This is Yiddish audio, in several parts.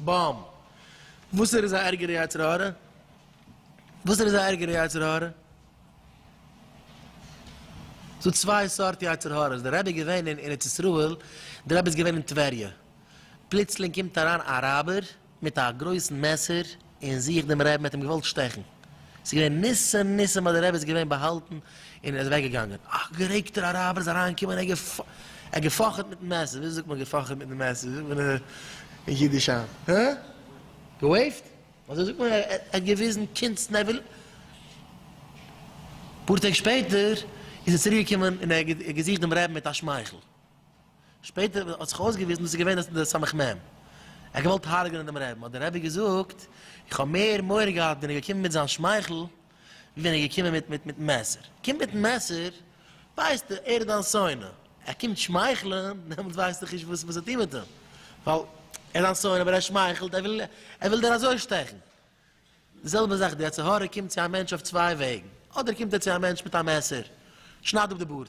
בום! וואס ער איז א ערגערע יצר הרע? וואס ער איז א ערגערע יצר הרע? ס'דא צוויי סארט יצר הרע'ס, דער רבי איז געווען אין ארץ ישראל, דער רבי איז געווען אין טבריה, פלוצלינג קומט אריין א אראבער מיט א גרויסן מעסער און זוכט דעם רעבן, ער האט אים געוואלט שטעכן. ס'איז געווען ניסים ניסים אז די רבי איז געווען באהאלטן און ער איז אוועק געגאנגען. א גערעגטער אראבער איז אריין געקומען און ער האט געפאכעט מיטן מעסער, וויאזוי זאגט מען געפאכעט מיטן מעסער זאגט מען אין אידיש היינט? הא? געוועיווט? אזוי זאגט מען ער האט געוויזן קונץ נעוועל. אפאר טעג שפעטער איז ער צוריק געקומען און ער האט געזוכט דעם רבי מיט א שמייכל. שפעטער האט זיך אויסגעוויזן דאס איז געווען די סמך מם, ער האט געוואלט הרג'נען דעם רעבן, האט דער רבי געזאגט, איך האב מער מורא געהאט ווען ער איז געקומען מיט זיין שמייכל, ווי ווען ער איז געקומען מיט מיטן מעסער, קומט מיטן מעסער, ווייסטו, ער איז דיין שונא, ער קומט שמייכלען, דעמאלטס ווייסטו איך נישט וואס צו טון מיט אים, ווייל ער איז דיין שונא, אבער ער שמייכלט, ער וויל, ער וויל דיר אזוי שטעכן. די זעלבע זאך, די יצר הרע קומט צו א מענטש אויף צוויי וועגן, אדער קומט ער צו א מענטש מיט א מעסער, שנייד אפ די בארד,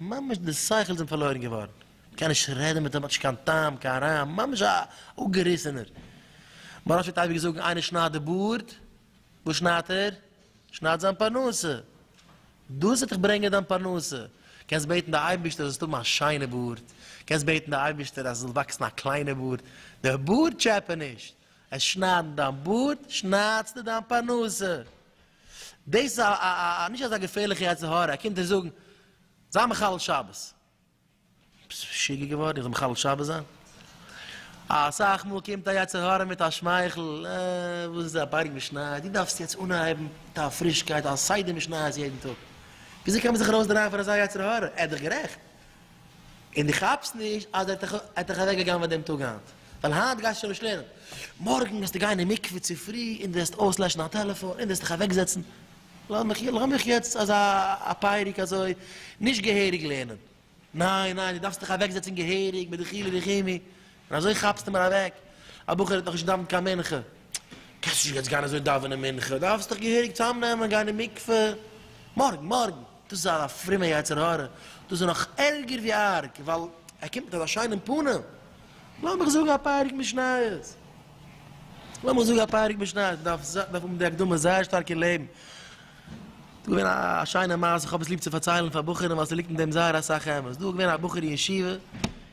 ממש די שכל זענט פארלוירן געווארן, מען קען נישט רעדן מיט אים, האט נישט קיין טעם, קיין רעם, ממש א אפגעריסענער. מוהרא ש פלעגט אייביג זאגן, איינער שניידט די בארד, וואס שניידט ער? שניידט זיין פרנסה. דאס וועט דיך ברענגען דיין פרנסה. קענסט בעטן די אייבערשטער זאלסט האבן א שיינע בארד, קענסט בעטן די אייבערשטער אז עס זאל וואקסן א קליינע בארד, די בארד טשעפע נישט, עס שניידן דיין בארד, שניידסטו דיין פרנסה. דאס איז א א נישט אזא געפערליכע יצר הרע, ער קומט דיר זאגן, זיי מחלל שבת. ביסט משוגע געווארן? איך זאל מחלל שבת זיין? אסאך מאל קומט א יצר הרע מיט א שמייכל, אה, וואס איז א בארג משניות, דו דארפסט יעצט אנהייבן מיט א פרישקייט, א סדר משניות יעדן טאג. וויאזוי קען מען זיך ארויסדרייען פון אזא יצר הרע? ער האט דאך גערעכט. און דו כאפסט נישט אז ער האט דיך אוועק געגנב'עט דעם טאג היינט, ווייל היינט גייסטו שוין נישט לערנען, מארגן וועסטו גיין אין מקווה צופרי און דו וועסט אויסלעשן דיין טעלעפאן און דו וועסט דיך אוועק זעצן, לאמיך יעצט אזא א פייעריג אזוי נישט געהעריג לערנען, ניין ניין דו דארפסט דיך אוועק זעצן געהעריג מיט די חילי וחומי, און אזוי כאפסטו מיר אוועק, א בחור האט נאכנישט געדאווענט קיין מנחה, קענסט נישט יעצט גיין אזוי דאווענען מנחה, דארפסט דיך געהעריג צוזאמנעמען, גיין אין מקווה, מארגן, מארגן, דאס איז א פרומע יצר הרע, דאס איז נאך ערגער ווי ארג, ווייל ער קומט מיט אזא שיינעם פנים, לאמיך זאגן א פרק משניות, לאמיך זאגן א פרק משניות, מ'דארף האבן די הקדמה זייער שטארק אין לעבן, דא געווען א שיינע מעשה, כ'האב עס ליב צו פארציילן פאר בחורים ווייל ס'ליגט אין דעם זייער אסאך אמת, דא געווען א בחור אין ישיבה,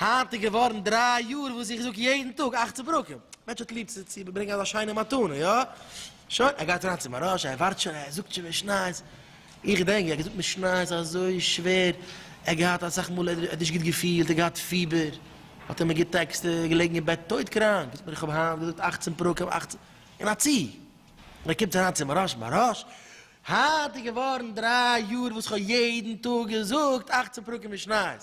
היינט איז געווארן דריי יאר וואס איך זאג יעדן טאג אכצן פרקים, מענטש האט ליב צו ברענגען אזא שיינע מתנה, יא? שוין, ער גייט אריין צו מהרא ש, ער ווארט שוין, ער זאגט שוין משניות, איך געדענק ווי ער האט געזאגט משניות אזוי שווער, ער האט געהאט אסאך מאל ער האט נישט גוט געפילט, ער האט געהאט פיבער, האט ער מיר געטעקסט, ער איז געלעגן אין בעט טויט קראנק, זאגט מיר איך האב היינט געזאגט אכצן פרקים, אכצן, אין א צי, און ער קומט אריין צו מהרא ש, מהרא ש, היינט איז געווארן דריי יאר וואס איך האב יעדן טאג געזאגט אכצן פרקים משניות,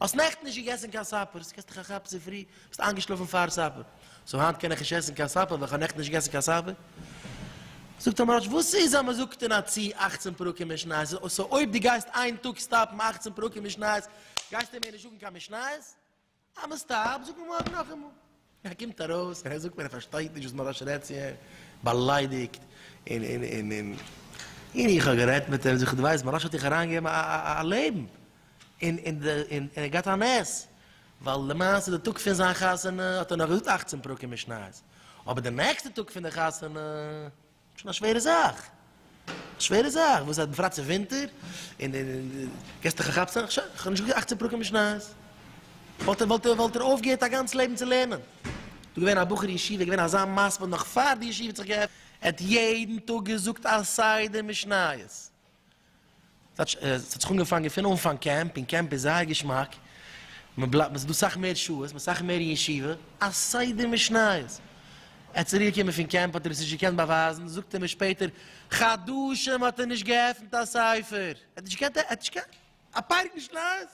האסט נעכטן נישט געגעסן קיין סאפער, ס'קעסט דיך א כאפ צופרי, ביסט איינגעשלאפן פאר סאפער, סאו היינט קען איך נישט עסן קיין סאפער ווייל איך האב נעכטן נישט געגעסן קיין סאפער? זאגט אים ר' אש, וואס איז אז מען זאגט אין א צ אכצן פרקים משניות, סאו אויב דו גייסט איין טאג סטאפן אכצן פרקים משניות, גייסטו מער נישט זאגן קיין משניות? אז מען סטאפט, זאגט מען מארגן נאכאמאל. ער קומט ארויס און ער זאגט מיר ער פארשטייט נישט וואס מוהראש רעדט צו אים, באליידיגט, און און און און און איך האב גערעדט מיט אים, זאג איך דו ווייסט מוהראש האט דיך אריינגעגעבן א א א לעבן, און און די און און ער האט געהאט א נס, ווייל למעשה די טאג פון זיין חתונה האט ער נאך געזאגט אַכצן פרקים משניות, אבער די נעקסטע טאג פון די חתונה. שוין א שווערע זאך, א שווערע זאך, וואס אז בפרט ס'איז ווינטער, און די געסט דיך א כאפצעם, איך שוין, כ'האב נישט געקאנט אכצען פרקים משניות, וואלט ער, וואלט ער, וואלט ער אויפגעהערט א גאנץ לעבן צו לערנען, דא געווען א בחור ישיבה, געווען אזא מספיד נאך פאר די ישיבה האט זיך געעפנט, ער האט יעדן טאג געזאגט א סדר משניות, ס'האט זיך אנגעפאנגען פון אנפאנג קעמפ, און קעמפ איז זייער געשמאק, מ'בלייבט, ס'איז דא סאך מער שעות, מ'איז סאך מער אין ישיבה, א סדר משניות. ער האט צוריקגעקומען פון קעמפ האט ער עס נישט געקענט באווייזן, זאגט ער מיר שפעטער, חדשים האט ער נישט געעפנט א ספר, ער האט נישט געקענט, ער האט נישט געקענט, א פרק משניות?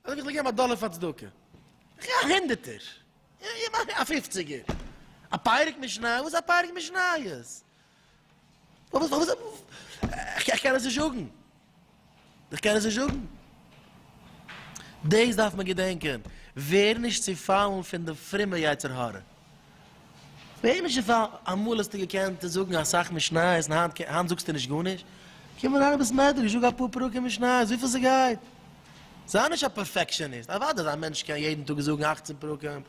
ער זאגט איך זאל געבן א דאלער פאר צדקה, איך גיב א הונדערטער, א פופציגער, א פרק משניות? וואס איז א פרק משניות? וואס וואס וואס איך קען עס נישט זאגן איך קען עס נישט זאגן דאס דארף מען געדענקען ווער נישט צו פאלן פון די פרומע יצר הרע ווער נישט צו פאלן אמאל האסטו געקענט זאגן אסאך משניות און היינט היינט זאגסטו נישט גארנישט קום אריין אין בית מדרש זאג אפאר פרקים משניות וויפיל ס'גייט זיי נישט א פערפעקשאניסט אוודאי אז א מענטש קען יעדן טאג זאגן אַכצן פרקים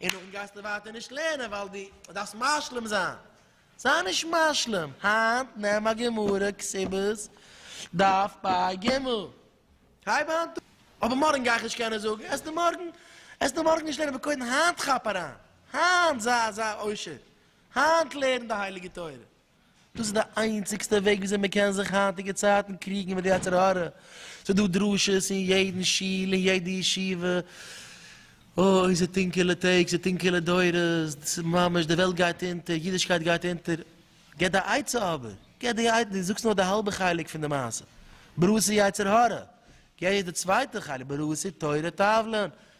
און נאכדעם גייסטו ווייטער נישט לערנען ווייל דו דארפסט משלים זיין. זיי נישט משלים, היינט נעם א גמרא כסבות דף פא ג, הייב היינט אן, אבער מארגן גיי איך נישט קענען זאגן, עסטו מארגן, עסטו מארגן נישט לערנען, אבער קודם היינט כאפ אריין, היינט זיי אזא עושר, היינט לערן די הייליגע תורה. דאס איז די איינציגסטע וועג וויאזוי מען קען זיך היינטיגע צייטן קריגן מיט די יצר הרע, ס'איז דא דרשות אין יעדן שול אין יעדע ישיבה, אוי ס'איז טונקעלע טעג ס'איז טונקעלע דורות, דאס איז ממש די וועלט גייט אונטער, אידישקייט גייט אונטער, גיב די עצה אבער, גיב די עצה, דו זאגסט נאר די האלבע חלק פון די מעשה, ברוסי יצר הרע, גיב די צווייטע חלק, ברוסי תורה תבלין,